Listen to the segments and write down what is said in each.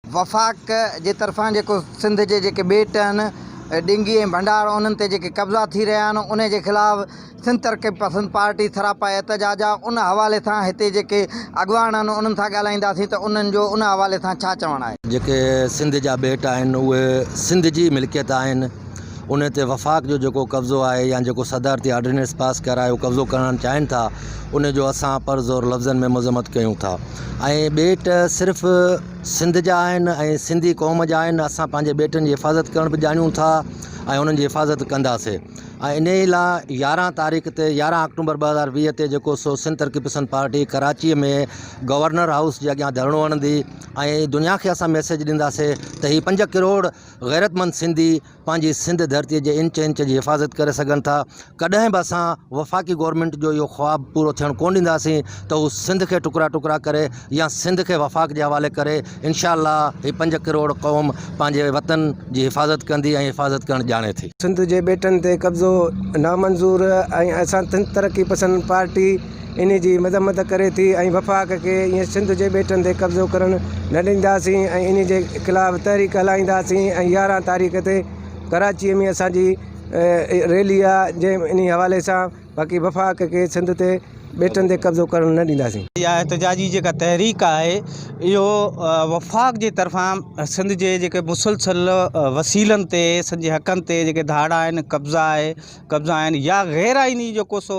وفاق جي طرفان جيڪو سنڌ جي جيڪي ٻيٽ آهن، ڊنگي ۽ ڀنڊار انهن تي جيڪي قبضا ٿي رهيا آهن انهي جي خلاف سنڌ ترقي پسند پارٽي سراپا احتجاج آ ان حوالي سان هتي جيڪي اڳواڻ آهن انهن سان ڳالهائينداسين ته انهن جو ان حوالي سان ڇا چوڻ آهي. جيڪي سنڌ جا ٻيٽ آهن اهي سنڌ جي ملڪيت آهن انهي تي وفاق جو جيڪو قبضو آهي يا جيڪو صدارتي آرڊيننس پاس ڪرائي اهو قبضو ڪرڻ چاهين ٿا انهي جو اسان پر زور لفظن ۾ مذمت ڪيون ٿا. ۽ ٻيٽ صرف سنڌ جا آهن ۽ سنڌي قوم جا آهن اسان پنهنجي ٻيٽن جي حفاظت ڪرڻ به ڄاڻون ٿا ۽ انهن جي حفاظت ڪنداسي ۽ انهي لا يارهن تاريخ تي يارهن اڪٽومبر ٻه هزار ويهه تي جيڪو سو Sindh Taraqqi Pasand party Karachi ۾ governor house جي اڳيان ڌرڻو هڻندي ۽ دنيا کي اسان ميسيج ڏينداسي ته هي پنج ڪروڙ غيرتمند سنڌي پنهنجي سنڌ ڌرتي جي انچ انچ جي حفاظت ڪري سگهن ٿا ڪڏهن به اسان وفاقي گورنمينٽ جو اهو خواب پورو ٿيڻ ڪون ڏينداسين ته هو سنڌ کي ٽڪرا ٽڪرا ڪري يا سنڌ کي وفاق جي حوالي ڪري انشاء الله هي پنج ڪروڙ قوم پنهنجي وطن جي حفاظت ڪندي ۽ حفاظت ڪرڻ ڄاڻي ٿي. سنڌ جي ٻيٽن تي قبضو نامنظور ۽ اسان ترقي پسند پارٽي انهي جي مذمت ڪري ٿي ۽ وفاق کي ائين سنڌ جي ٻيٽن تي قبضو ڪرڻ نه ڏينداسين ۽ انهي جي خلاف تحريڪ هلائينداسين ۽ يارهن تاريخ تي ڪراچي ۾ اسان جي ريلي آ جنهن انهي حوالي سان باقي وفاق کي سنڌ تي ٻيٽن تي قبضو ڪرڻ نه ڏينداسين. اها احتجاجي جيڪا تحريڪ آهي اهو وفاق جي طرفان سنڌ جي جيڪي مسلسل وسيلن تي سنڌ جي حقن تي جيڪي ڌاڙا آهن قبضا آهي قبضا آهن يا غير آئيني جيڪو سو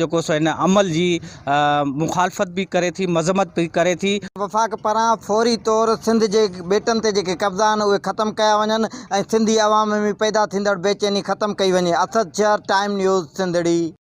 جيڪو سو هن عمل جي مخالفت به ڪري ٿي مذمت به ڪري ٿي. وفاق پاران فوري طور سنڌ جي ٻيٽن تي جيڪي قبضا آهن اهي ختم ڪيا وڃن ۽ سنڌي عوام ۾ پيدا ٿيندڙ بيچيني ختم ڪئي وڃي اسد چهر ٽائيم نيوز سنڌڙي.